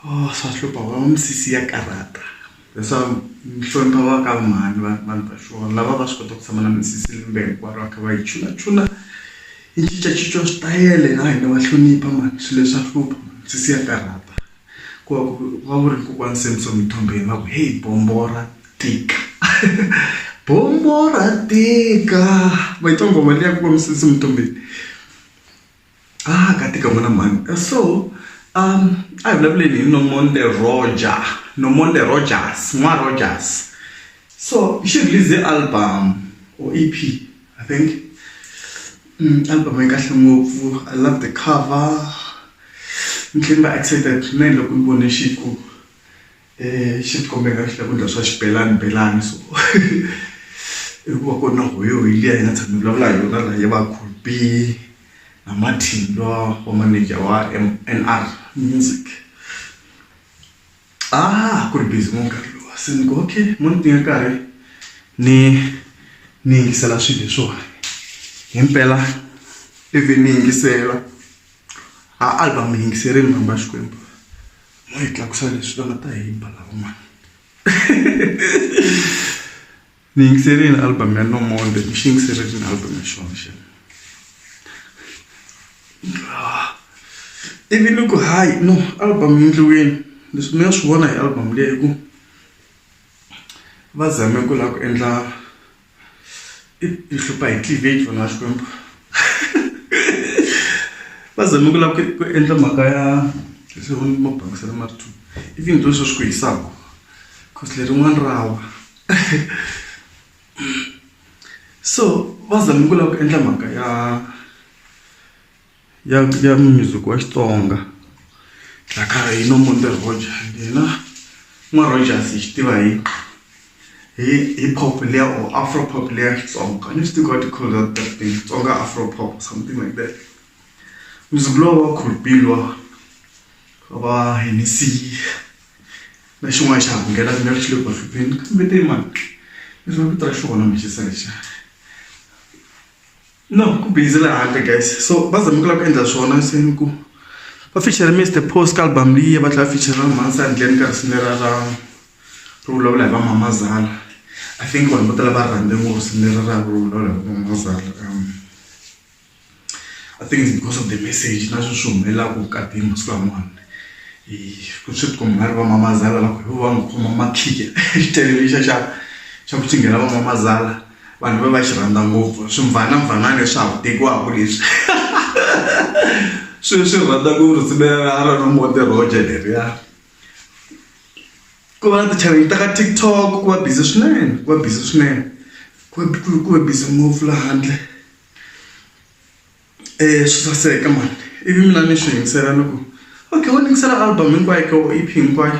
Oh swa hlupha va va misisi ya karhata that's why ni hlonipha va ka mhani va vanhu va xona lava va swi kota ku tshama na misisi lembe hinkwaro va kha va yi chula chula yi cincacinca switayele ha hina va hlonipha mhani swilo leswa hlupha misisi ya karhata ku va ku va ku ri kokwani Samsom Mthombeni va ku heyi bombo ra tika bombo ra tika ma yi twa nghoma liya kokwani Samsom Mthombeni. a ah, ka tika n'wana mhani eh, so um a hi vulavuleni hi nomonde roger nomonde rogers n'wa rogers so xi release album or ep i think mm, album yi kahle ngopfu i love the cover ni tlhela ni va excited swinene loko ni vone xi ku xi tikomba i nga ri swakudya swa xibelani belani so i ku va ku ri na huwa hi liya hi nga tshama hi vulavula hi yona la ya va cool be na matimba wa maneja wa N_R music a ku ri busy ngopfu nkarhi luwa se ni ku okay mo ni teka nkarhi ni ni yingisela swilo leswiwani himpela ivi ni yingisela. A album yi yingiserini vanhu va Xikwembu mo hi tlakusa leswi va nga ta hi ba lava mani ni yingiserini album ya no more ni xi yingiserile album ya xona xi ivi ni ku hayi no album yi endliweni leswi mi nga swi vona hi album leyi hi ku va zame ku lava ku endla. yi hlupha hi cleavage vana va Xikwembu va zame ku lava ku ku endla mhaka ya leswi va ma bangisela ma ri two i vinyi byo swo swi ku hisaka cause lerin'wani ra wa so va zame ku lava ku endla mhaka ya ya ya music wa Xitsonga Dlakara yi no munde Roger yena n'wa Rogers hi xi tiva hi hi hi pop liya or afro pop liya Xitsonga a ni swi tivi ku va ti call that thing Xitsonga afro pop something like that music lowu wa Colbee luwa wa va Hennessy na xin'wana xa ha ku nghena ku nga ri xi le ku va hlupheni kambe te mani ni rhandza vito ra xona manjhe se lexiya. No ku busy la handle guys so va zama ku lava ku endla swona se ni ku va feature Mister Post ka album leyi va tlhela feature na Mhani Sandleni ka risimu lera ra ro vulavula hi va mamazala I think vanhu vo tala va rhandze ngopfu risimu lera ra ro vulavula hi va mamazala I think it's because of the message na sweswi humelelaka vukati masiku lamawani hi ku swi ti komba nga ri va mamazala va ku hi vo va nga khoma makhikhi xitayele lexiya xa xa ku cingela va mamazala. Vanhu va va xi rhandza ngopfu swimvana-mvana leswi ha ku tekiwaka leswi. Swi swi rhandza ku ri simelela a ri ri Monte Roger leriya. Ku va na ti-channel ta ka TikTok ku va busy swinene ku va busy swinene ku va ku ku va busy ngopfu la handle swi saseka mani ivi mina ni swi yingisela ni ku okay wo ni yingisela album hinkwayo ke or E_P hinkwayo.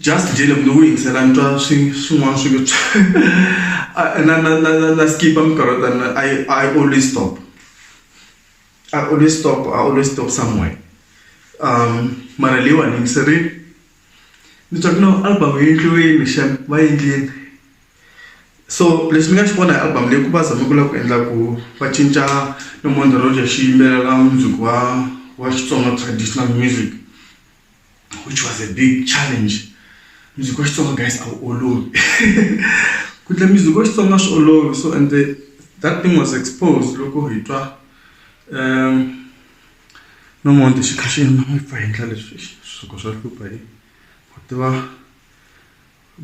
Just Jele mune wu yingisela ni twa swi swin'wana swi nge na na na na na skip minkarhi yo tani I I always stop I always stop I always stop somewhere um mara leyiwani ni yingiserile ni twa ku no album yi endliwini xana va yi endlini so lexi ni nga xi vona hi album leyi ku va zame ku lava ku endla ku va cinca no mondzo xi yimbelela mundzuku wa wa Xitsonga traditional music. which was a big challenge music wa xitsonga guys a wu olovi ku endla music wa xitsonga swi olovi so and the, that thing was exposed loko hi twa um nomonde xi kha xi yima mi pfa hi endla leswi swisuko swa hlupha hi ku tiva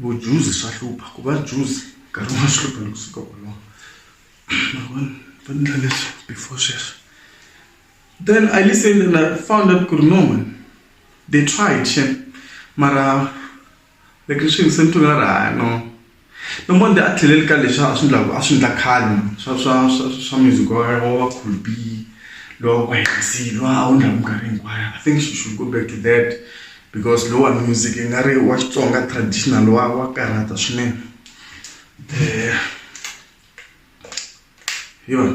vujuzi swa hlupha ku va juzi nkarhi wun'wana swi hlupha loko suka wolowo mavona va endla leswi before sweswo Then I listened and I found out ku ri no man they tried shem mara like ni swi yingisele ni twe nga ri hayi no no monde a tlheleli ka leswi a swi ndlaku a swi ndla khale man swa swa swa swa music wa wa wa cool B lowa wa ku hehlisile lowa a wu ndlaku minkarhi hinkwayo I think she should go back to that because lowa music i nga ri wa Xitsonga traditional wa wa karhata swinene hi yona.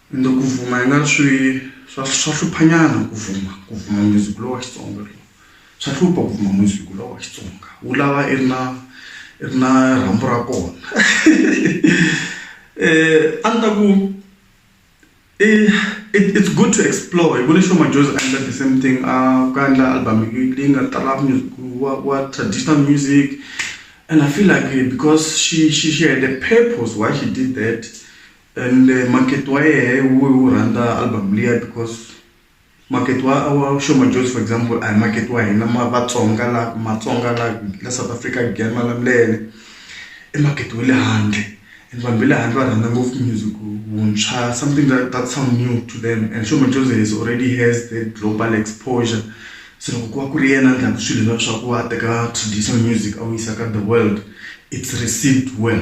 Ende ku vuma i nga ri swi swa swa hluphanyana ku vuma ku vuma music lowu wa Xitsonga lowu swa hlupha ku vuma music lowu wa Xitsonga wu lava i ri na i ri na rhambu ra kona a ni ta ku i it's good to explore hi vone Sho Madjozi a endla the same thing a ku a endla album leyi nga tala music wa wa traditional music and I feel like because she she she had a purpose why she did that. And makete wa yehe wu wu rhandza album liya because makete wa wa Sho Madjozi for example a hi makete wa hina ma Vatsonga la Matsonga la la South Africa Giyani Malamulele i makete wa le handle and vanhu va le handle va rhandza ngopfu music wuntshwa something that that sound new to them and Sho Madjozi he is already has the global exposure se loko ku va ku ri yena a ndlaku swilo leswaku a teka traditional music a wu yisa ka the world it's received well.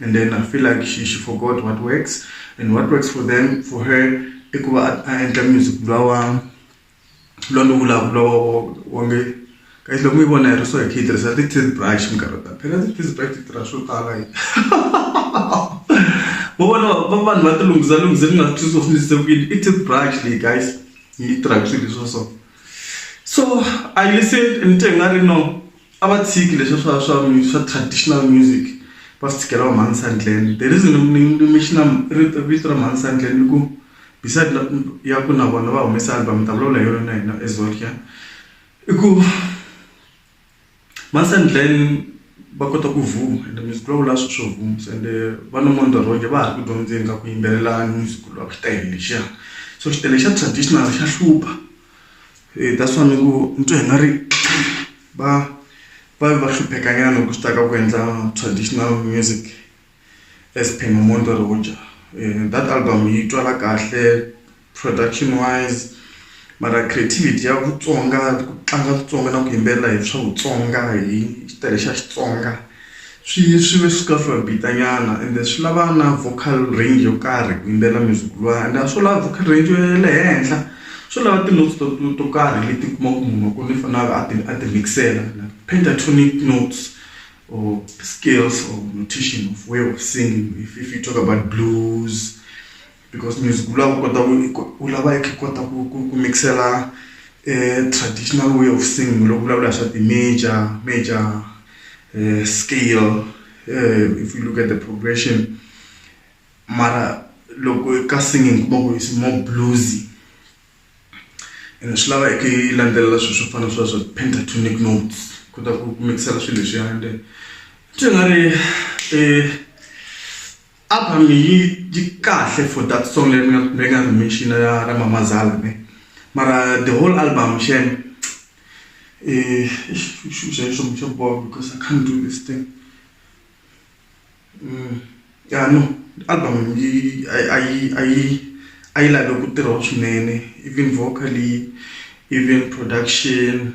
and then I feel like she she forgot what works and what works for them for her i ku va a endla music luwa wa luwa lowu vulavula wonge guys loko mi vona hi ri so hi kha hi tirhisa ti-teeth brush minkarhi ta phela ti-teeth brush ti tirha swo tala yi vo vona va vanhu va ti lunghisa lunghise ni nga swi twisisi ni se ku yini i teeth brush leyi guys yi tirhaka swilo leswa so so i listened ni te nga ri no a va tshiki leswa swa swa swa traditional music va swi tshikela va mhani Sandland the reason ni ni mi xi na vito ra mhani Sandland i ku beside ya ku na vona va humesa album ni ta vulavula hi yona na hina as well here i ku mhani Sandland va kota ku vuma ende music lowu vula swi swo vuma se ende va na mondo Rhonja va ha ri ku dyondzeni ka ku yimbelelana music lowu a ku xi tele lexiya so xi tele xa traditional xa hlupha. Hi ta swa ni ku ni twa i nga ri va va va hlupheka nyana loko swi ta ka ku endla traditional music as per Nomonde Rhodja that album yi twala kahle production wise mara creativity ya Vutsonga ku tlanga Vutsonga na ku yimbelela hi swa Vutsonga hi xitayele xa Xitsonga. Swi swi ve swi kha swi va bita nyana and swi lava na vocal range yo karhi ku yimbelela music luwa and a swo lava vocal range ya le henhla swo lava ti-notes to to to karhi leti u kumaka munhu wa kona i faneleke a ti a ti mix-ela pentatonic notes or scales or notation of way of singing if if you talk about blues. because music wu lava u kota ku u lava ku kota ku ku ku mix-ela traditional way of singing loko u vulavula hi swa ti-major major scale if you look at the progression mara loko ka singing u kuma ku is more bluesy ene swi lava i kha i landzelela swilo swo fana na sweswo pentatonic notes u kota ku ku mix-ela swilo leswiyani swi nga ri . Album leyi yi kahle for that song leyi mi nga mi nga ri mention ya ra Mama Zala ne mara the whole album xana because I can't do this thing ya no album yi a yi a yi a yi a yi lave ku tirhiwa swinene even vocally even production.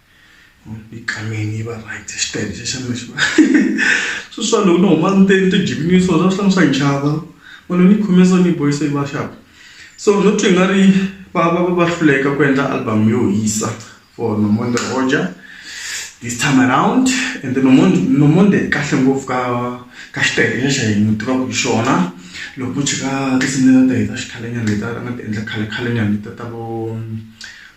Ikhameni yi va right xitayele xa xana xi va swi swa loko ni huma ndzeni ti jiminisiwa swa swi hlaya swa chava munhu ni khome so ni boyisa yi va xap so no twi nga ri va va va va hluleka ku endla album yo hisa for Nomonde Roger this time around ende Nomonde Nomonde i kahle ngopfu ka ka xitayele lexa hi n'wi tivaka hi xona loko u cheka tinsimu leti a ti heta xikhale nyana leti a nga ti endla khale khale nyana letiya ta vo.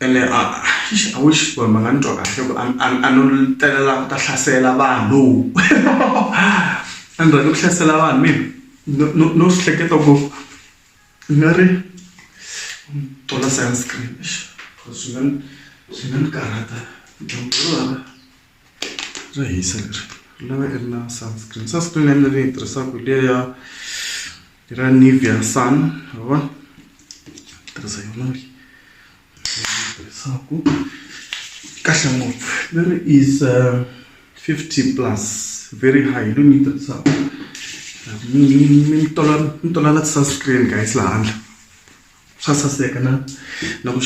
Ene a eish I wish ku ri ma nga ni twa kahle ku a a a no telela ku ta hlasela vanhu a ni rhandzi ku hlasela vanhu mina no no no swi hleketa ku ni nga ri tona sunscreen eish swi nga ni swi nga ni karhata dyambu ro . bya hisa leri ri lava i ri na sunscreen sunscreen ya mina leyi tirhisaka hi liya ya ra Nivea Sun ma vona tirhisa yona leyi tirhisaka kahle ngopfu leri is uh, 50 plus very high leyi ni yi tirhisaka ni tola ni tola na ti-sunscreen guys laha handle Swa saseka na na ku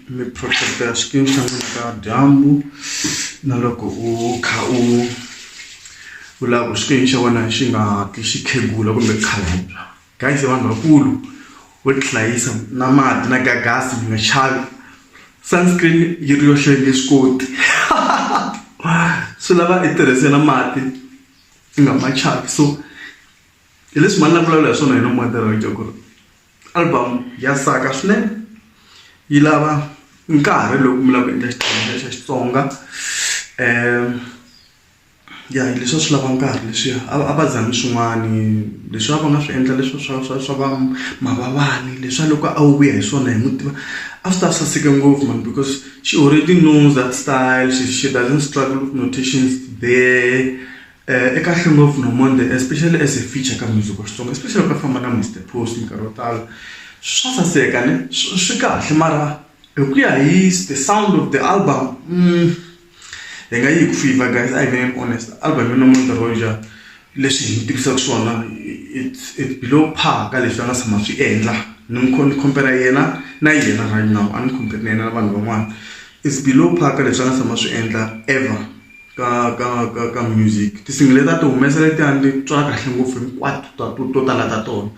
mi protect-a swikimu swa n'wina ka dyambu na loko u kha u u lava ku xikimu xa wena xi nga hatli xi khegula kumbe khalabya guys i vanhu vakulu vo tihlayisa na mati na ka gas mi nga xavi sunscreen yi ri yoxe yi nge swi koti swi lava i tirhise na mati i nga ma chava so hi leswi mhani ni nga vulavula hi swona hi na moderator ku ri. Album ya saka swinene yi lava nkarhi loko mi lava ku endla xitori xa Xitsonga ya hi leswi a swi lava nkarhi leswiya a va a va zami swin'wani leswi a va nga swi endla leswi swa swa swa va Mavavani leswa loko a wu vuya hi swona hi n'wi tiva a swi ta saseka ngopfu mani because she already knows that style she she doesn't struggle with notations there. Eka Hlungopfu no Monday especially as a feature ka music wa Xitsonga especially ka famba na Mister Post nkarhi wo tala swa saseka ne swi kahle mara hi ku ya hi the sound of the album hi nga yi hi ku fivha guys a hi veneni honest album yo no Monday ro ja leswi hi tivisaka swona it's it's below par ka leswi va nga tshama swi endla ni mi ni compare yena na yena right now a ni compare na yena na vanhu van'wana it's below par ka leswi a nga tshama swi endla ever. ka ka ka ka music tinsimu leti a ti humesa letiyani ni twa kahle ngopfu hinkwato ta to to tala ta tona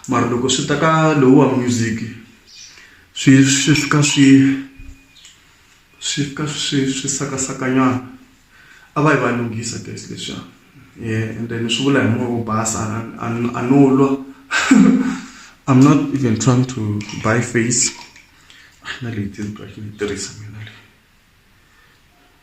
mara loko swi ta ka lowuwa music swi swi fika swi swi fika swi swi sakasakanyana a va yi va lunghisa guys leswiya um ende ni swi vula hi moya wo basa a ni- a no lwa i'm not even trying to buy face na leyi ti ni twa yi ni tirhisa mina leyi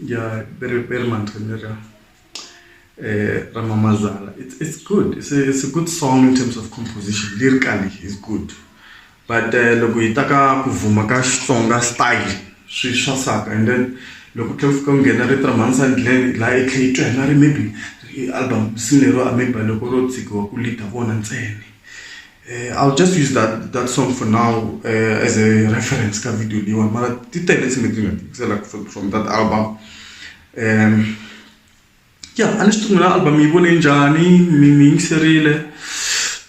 Yeah, very, very Mantanera. Uh, eh, Ramamazala. It's, it's good. It's a, it's a good song in terms of composition. Lyrically, it's good. But uh, loko hi ta ka ku vuma ka Xitsonga style swi swa saka and then loko tlhe fika nghena ri tramhanisa ndlele laha i tlhe yi twa hina ri maybe album sini lero a maybe loko ro tshikiwa ku lita vona ntsena Eh, I'll just use that that song for now uh, as a reference ka video leyi wani mara ti tele tshimbe ti nga tikisela from that album um yeah a ni swi tungula album yi vone njhani mi mi yingiserile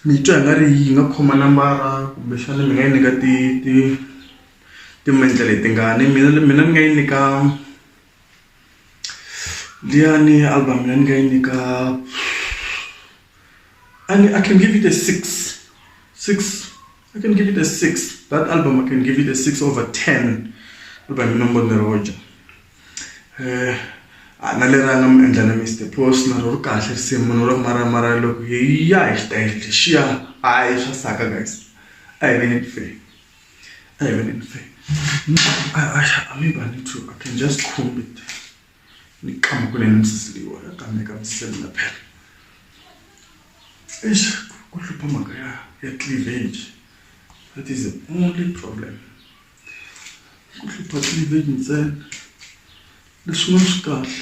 mi twa hi nga ri yi nga khoma nambara kumbexana mi nga yi nyika ti ti timentle leti ngani mina mina ni nga yi nyika liyani album ya ni nga yi nyika and I can give it a six, six. I can give it a six. That album, I can give it a six over ten. By Minombo Neroja. Eh, ana leri a nga mi endla na mr pos na ro ri kahle risimu munhu ro maramara loko hi ya hi xitayele lexiya hayi swa saka guys a hi veneni fe a hi veneni fe a mi bani two i can just comb it nixamukule nimsisiliwa kambe ka misele na phela eish ku hlupha mhaka ya ya cleavage that is the only problem ku hlupha cleavage ntsena leswin'wana swi kahle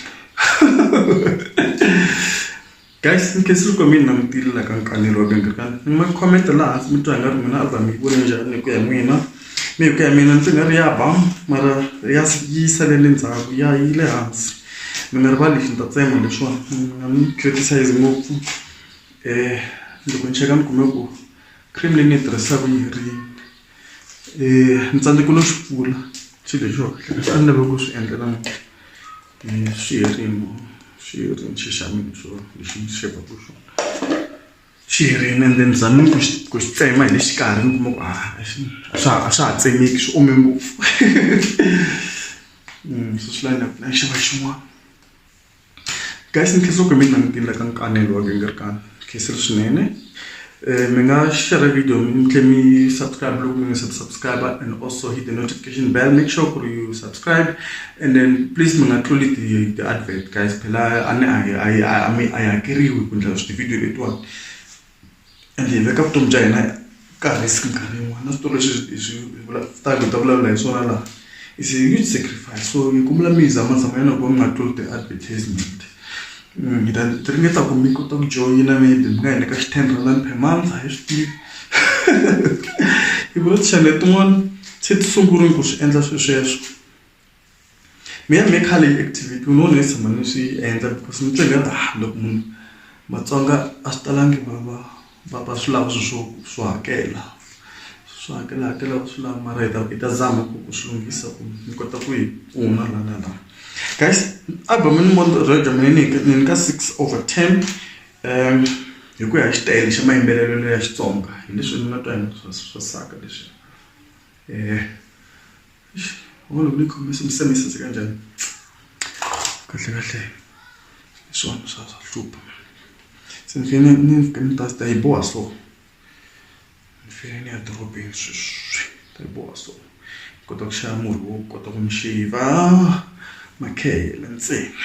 Guys ni khensa loko mi ni langutile la ka nkanelo wa ka nkarhi ni ma comment laha hansi mi twa nga ri n'wina album mi yi vone njhani hi ku ya hi n'wina me hi ku ya hi mina ndzi nga ri ya ba mara ya yi salele ndzhaku ya yi le hansi mi nga rivali lexi ni ta tsema leswiwani mi nga ni criticize ngopfu loko ni cheka ni kume ku cream leyi ni yi tirhisaku yi herile. ni tsandzeke no swi pfula xilo lexiwa leswi a ni lave ku swi endla namuntlha swi herini swi herini xi xa mina xo lexi ni xevaku xona xi herini ende ni zame ku xi ku xi tsema hi le xikarhi ni kuma ku a a xi a swa ha a swa ha tsemeki swi ome ngopfu se swi lava ni ya ku ni ya xava xin'wana. Guys ni khensa ku mi langutile ka nkanelo wa Gingirikani khensile swinene eh, mi nga share video mi tlhe mi subscribe loko mi nga se subscribe and also hit the notification bell make sure ku ri you subscribe and then please mi nga tluli ti ti advert guys phela a ni a hi a hi a mi a hi hakeriwi ku ndla swi ti video letiwani ende hi veka vutomi bya hina ka risk minkarhi yin'wani na switori leswi hi swi hi hi ta vulavula hi swona laha is a huge sacrifice so ni kombela mi zama zama ya loko mi nga tluli ti-advertisement hi ta ti ringeta ku mi kota ku joyina maybe mi nga hi nyika xi ten rhandi per month a hi swi tivi hi vula ti-chanel tin'wani se ti sungurile ku swi endla swi sweswo. Mina ni nge khale yi activity ni vona yi tshama ni swi yi endla because ni titwela ingaku ha loko munhu Matsonga a swi talangi va va va va swi lava swilo swo swo hakela swo hakela hakela va swi lava mara hi ta hi ta zama ku ku swi lunghisa ku ni kota ku yi kuma la na la guys album ni ni nyika six over ten hi ku ya hi xitayili xa mayimbelelo ya Xitsonga hi leswi ni nga twa hi swa swa saka leswi . Wo lo mikho mi mi se mi saseka njhani? Kahle kahle hi swona swa swa hlupha. Se ni fanele ni ni fika ni ta ta yi boha so. Ni fanele ni ya dorobeni sweswi ni ta yi boha so. Ni kota ku xava murhi wo kota ku ni shave-a makhehla ntsena.